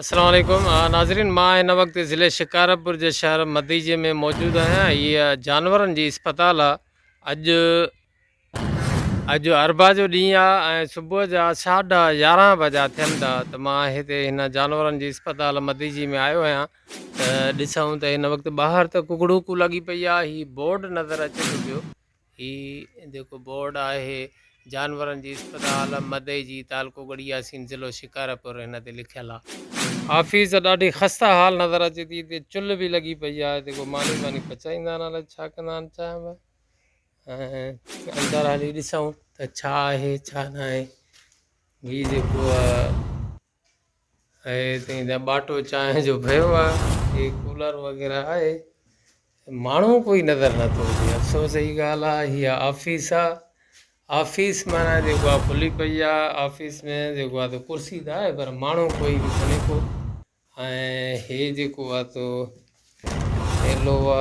السلام عليڪم ناظرين مان هن وقت ضلعي شڪارپور جي شهر مديجي ۾ موجود آهيان هيء جانورن جي اسپتال آهي اڄ اڄ اربا جو ڏينهن آهي ۽ صبح جا ساڍا يارهن بجا ٿين ٿا ته مان هتي هن جانورن جي اسپتال مديجي ۾ آيو آهيان ته ڏسون ته هن وقت ٻاهر ته ڪڪڙوڪو لڳي پئي آهي هي بورڊ نظر اچي ٿو پيو هي جيڪو بورڊ آهي جانورن جي اسپتال مدئي جي تعلقو ڳڙهي ياسين ضلعو شڪارپور هن تي لکيل آ آفيس ڏاڍي خسته حال نظر اچي ٿي هتي چلهه به لڳي پئي آ هتي ڪو ماني واني پچائيندا آهن الائي ڇا ڪندا آهن چانهه ۾ ۽ اندر هلي ڏسون ته ڇا آهي ڇا ناهي هي جيڪو آ ۽ تنهن جا ٻاٽو چانهه جو پيو آهي هي ڪولر وغيره آهي ماڻهو ڪوئي نظر نٿو اچي افسوس جي ڳالهه آهي هي آفيس آهي آفيس معنيٰ جيڪو آهي کلي پئي آهي آفيس ۾ جيڪو آهي ڪرسي ته آهي پر ماڻهو ڪوئي به ڪونهي ڪو ۽ هي جيڪو آهي تو ايلووا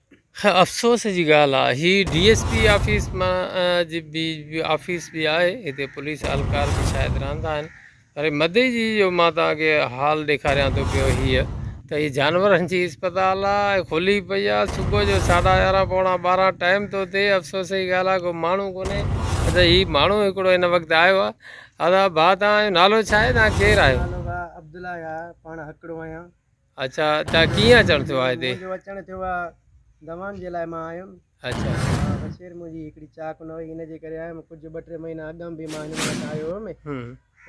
افسوس جي ڳالهه آ هي ڊي ايس پي آفيس مان جي بي آفيس به آهي هتي پوليس اهلڪار به شايد رهندا آهن وري مدي جي جو مان توهان کي حال ڏيکاريان ٿو پيو هيء ته هي جانورن جي اسپتال آ کلي پئي آ صبح جو ساڍا يارهن پوڻا ٻارهن ٽائيم ٿو ٿئي افسوس جي ڳالهه آ ڪو ماڻهو ڪونهي ادا هي ماڻهو هڪڙو هن وقت آيو آ ادا ڀا توهان جو نالو ڇا آهي توهان ڪير آهيو؟ منهنجو نالو ڀا عبدالله آ پاڻ هڪڙو آهيان اچا تا ڪيئن اچڻ ٿيو آ هتي جو اچڻ ٿيو آ دوان جي لاء مان آيم اچا بشير مون جي هڪڙي چاڪ نه هئي ان جي ڪري آيم ڪجهه ٻه ٽي مهينا اڳم به مان هن وٽ آيو هيم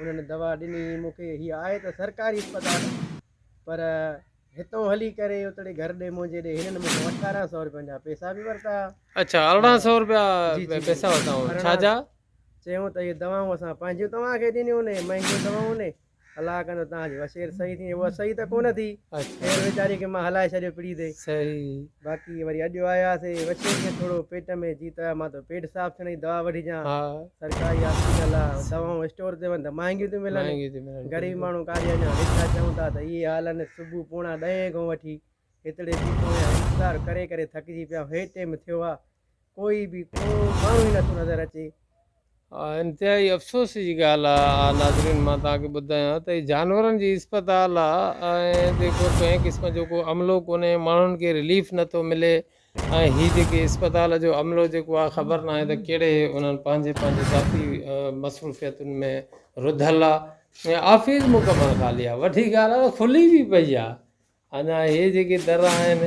انهن دوا ڏني مون کي هي آهي ته سرڪاري اسپتال پر هتون هلي ڪري اتڙي گهر ڏي مون جي ڏي هنن مون کي اٺارهن سؤ روپين جا پيسا به ورتا اچا ارڙهن سؤ روپيا پيسا ورتا ڇا جا چيون ته هي دوائون اسان پنهنجيون توهان کي ڏنيون نه مهنگيون دوائون نه الله ڪندو تان جو وسير صحيح ٿي هو صحيح ته ڪونه ٿي اهڙي ويچاري کي مان هلائي ڇڏيو پڙي تي صحيح باقي وري اڄ آيا سي وسير کي ٿورو پيٽ ۾ جي ته مان تو پيٽ صاف ٿيڻ جي دوا وٺي جان سرڪاري هاسپيٽل آ دوائون اسٽور تي وڃ ته مهانگيون ٿيون ملن غريب ماڻهو ڪاري اڃا ويٺا چون ٿا ته اهي حال آهن صبح پوڻا ڏهين کان وٺي هتڙي جي پويان انتظار ڪري ڪري ٿڪجي پيا هي ٽيم ٿيو آ ڪوئي به ڪو ماڻهو ئي نٿو نظر اچي. اها انتهائي افسوس جي ڳالهه آهي ناظرين مان توهان کي ٻڌايان ته هي جانورن جي اسپتال آهي ۽ هتي ڪو ڪنهن قسم جو ڪو عملو ڪونهي ماڻهن کي رليف نٿو ملي ۽ هي جيڪي اسپتال جو عملو جيڪو آهي خبر ناهي ته ڪهڙي انهن پنهنجي پنهنجي ذاتي مصروفيتن ۾ رڌل آهي ۽ آفيس مڪمل خالي آهي وڏي ڳالهه آهي ته کلي به پئي آهي اڃا هي جيڪي در آهن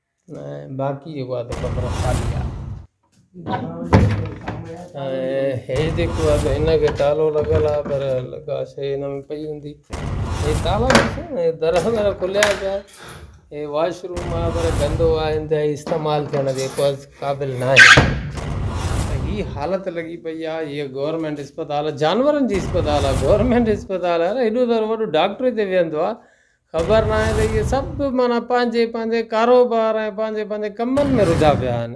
۽ باقي جيڪو آهي سو قدر خالي آهي ۽ هي جيڪو آهي سو هن کي تالو لڳل آهي پر لڳا شيء هن ۾ پئي هوندي هي تالا ڏسو نه هي در هنر کليا پيا آهن هي واش روم آهي پر گندو آهي انتهائي استعمال ٿيڻ جي ڪو قابل نه آهي ۽ هي حالت لڳي پئي آهي هيء گورنمينٽ اسپتال جانورن جي اسپتال آهي گورنمينٽ اسپتال آهي نه هيڏو سارو وڏو ڊاڪٽر هتي ويهندو آهي خبر ناهي ته اهي سڀ معنيٰ پنهنجي پنهنجي ڪاروبار ۽ پنهنجي پنهنجي ڪمن ۾ رڌا پيا آهن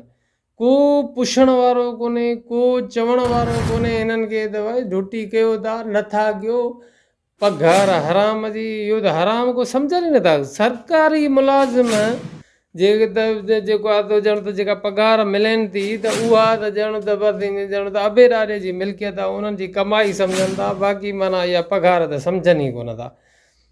ڪو پڇڻ وارو ڪونهي ڪو چوڻ وارو ڪونهي هنن کي ته ڀائي ڍٽي ڪيو ٿا نٿا ڪيو پگهار حرام جي اهو ته حرام ڪو سمجهن ئي نٿا سرڪاري ملازم جي جيڪو آهي سو ڄڻ ته جيڪا پگهار ملين ٿي ته اها ته ڄڻ ته بس ائين ڄڻ ته ابي ڏاڏي جي ملڪيت آهي انهن جي ڪمائي سمجهن ٿا باقي معنيٰ اها پگهار ته سمجهن ئي ڪونه ٿا